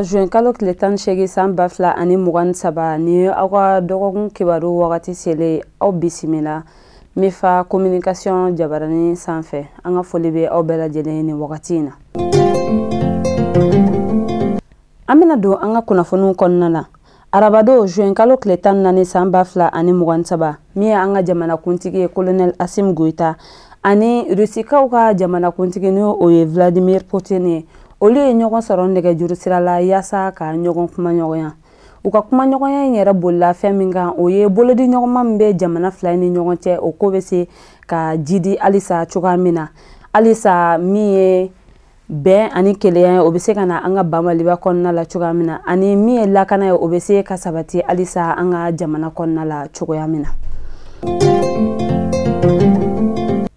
juin kalo tile tan ni seegin san ba fila ani mugan ni saba ni aw ka dɔgɔkun kibaru wagati selen aw bisimila mifa communication jabarani sanfɛ an ka foli bɛ aw bɛɛ lajɛlen ye nin wagati in na an bɛna don an ka kunnafoniw kɔnɔna na arabadon juin kalo tile tan naani san ba fila ani mugan saba min ye an ka jamanakuntigi ye kolonɛl asimi goyita ani rusikaw ka jamanakuntigi ni o ye vladimir putin ye olu ye ɲɔgɔn sɔrɔ nɛgɛjuru sira la yaasa ka ɲɔgɔn kumaɲɔgɔnya u ka kumaɲɔgɔnya in yɛrɛ bolila fɛn min kan o ye bolodiɲɔgɔnma min bɛ jamana fila ni ɲɔgɔn cɛ o ko bɛ se ka jidi halisa cogoya min na halisa min ye bɛn ani kelenya ye o bɛ se ka na an ba maliba kɔnɔna la cogoya min na ani min ye lakana ye o bɛ se ka sabati halisa an ka jamana kɔnɔna la cogoya min na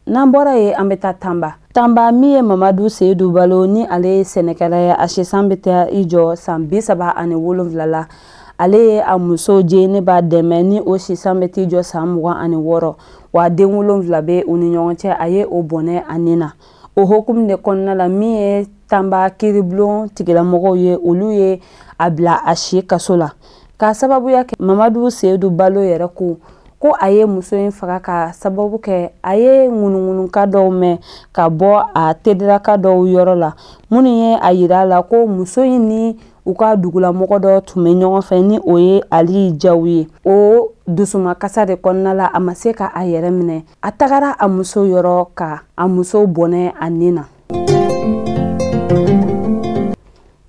n'an bɔra yen an bɛ taa tanba Tanba min ye Mamadu Seyidu Balo ni ale ye sɛnɛkɛla ye a si san bɛ taa i jɔ san bi saba ani wolonwula la ale ye a muso Jenɛba Dɛmɛ ni o si san bɛ t'i jɔ san mugan ani wɔɔrɔ wa den wolonwula bɛ u ni ɲɔgɔn cɛ a ye o bɔnɛ a ni na o hokumu de kɔnɔna la min ye tanba kiribulon tigilamɔgɔw ye olu ye a bila a si kaso la k'a sababuya kɛ mamadu seyidu balo yɛrɛ ko ko a ye muso in faga ka sababu kɛ a ye ŋunuŋunukan dɔw mɛn ka bɔ a tediraka dɔw yɔrɔ la minnu ye a yira a la ko muso in ni u ka dugulamɔgɔ dɔ tun bɛ ɲɔgɔn fɛ ni o ye ali jaw ye o dusumakasa de kɔnɔna la a ma se ka a yɛrɛ minɛ a tagara a muso yɔrɔ ka a muso bɔnɛ a nin na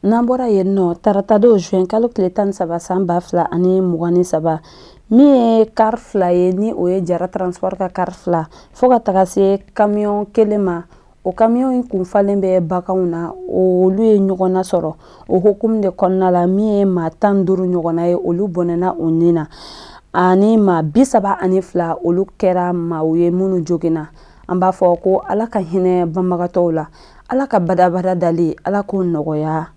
n'an bɔra yen nɔ taratadon juin kalo tile tan ni saba san ba fila ani mugan ni saba min ye kari fila ye ni o ye jara transport ka kari fila fo ka taga se kamiyɔn kelen ma o kamiyɔn in kun falen bɛ baganw na olu ye ɲɔgɔn nasɔrɔ o hokumu de kɔnɔna la min ye maa tan duuru ɲɔgɔnna ye olu bɔnɛna u ni na ani maa bi saba ani fila olu kɛra maaw ye minnu joginna an b'a fɔ ko ala ka hinɛ banbagatɔw la ala ka badabada dali ala k'o nɔgɔya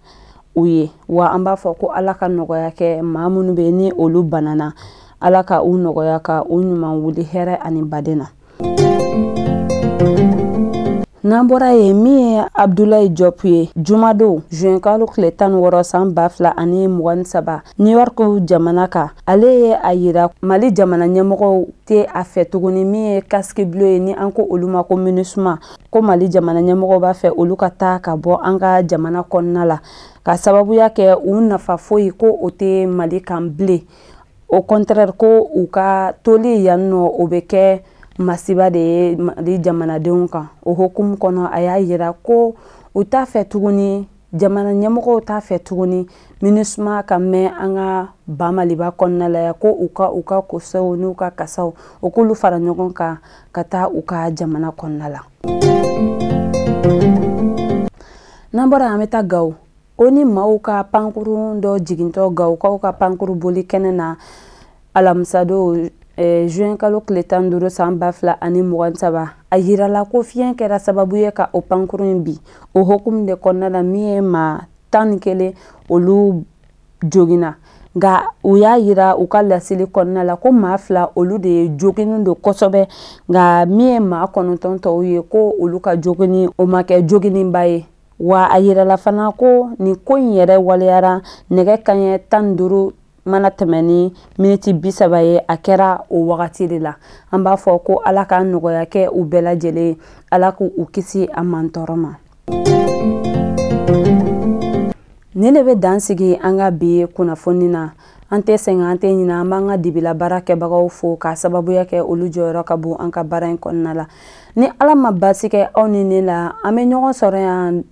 u ye wa an b'a fɔ ko ala ka nɔgɔya kɛ maa minnu bɛ ni olu banana ala ka u nɔgɔya ka u ɲuman wuli hɛrɛ ani baden na n'an bɔra yen min ye abdulayi jɔpu ye jumadon zuwɛnkalo tile tan wɔɔrɔ san ba fila ani mugan ni saba new york jamana kan ale ye a yira mali jamana ɲɛmɔgɔw tɛ a fɛ tuguni min ye casque bleu ye ni an ko olu ma ko minusma ko mali jamana ɲɛmɔgɔw b'a fɛ olu ka taa ka bɔ an ka jamana kɔnɔna la k'a sababuya kɛ u nafa foyi ko o tɛ mali kan bilen au contraire ko u ka toli yan nɔ o bɛ kɛ masiba de ye mali jamanadenw kan o hokumu kɔnɔ a y'a yira ko u t'a fɛ tuguni jamana ɲɛmɔgɔw t'a fɛ tuguni minusma ka mɛɛn an ka ba maliba kɔnɔna la yan ko u ka u ka kosow n'u ka kasaw u k'olu fara ɲɔgɔn kan ka taa u ka jamana kɔnɔna la n'an bɔra an bɛ taa gawo onu maaw ka pankurun dɔ jigintɔ gawukaw ka pankurun boli kɛnɛ na alamisadon eh, juin kalo tile tan duuru san ba fila ani mugan saba a yirala ko fiɲɛ kɛra sababu ye ka o pankurun in bin o hokumu de kɔnɔna la min ye maa tan ni kelen olu joginna nka u y'a yira u ka laseli kɔnɔna la ko maa fila olu de ye joginnen don kosɛbɛ nka min ye maa kɔnɔntɔn tɔw ye ko olu ka joginni o ma kɛ joginniba ye wa a yirala fana ko nin ko in yɛrɛ waleyara nɛgɛ kanɲɛ tan ni duuru mana tɛmɛ ni miniti bi saba ye a kɛra o wagati de la an b'a fɔ ko ala ka nɔgɔya kɛ u bɛɛ lajɛlen ala k' u kisi a mantɔɔrɔ ma nin de bɛ dan sigi an ka bi kunnafoni na an tɛ sɛgɛn an tɛ ɲina an b'an ka dibila baarakɛbagaw fo k'a sababuya kɛ olu jɔyɔrɔ ka bon an ka baara in kɔnɔna la ni ala ma basi kɛ aw ni ne la an bɛ ɲɔgɔn sɔrɔ yan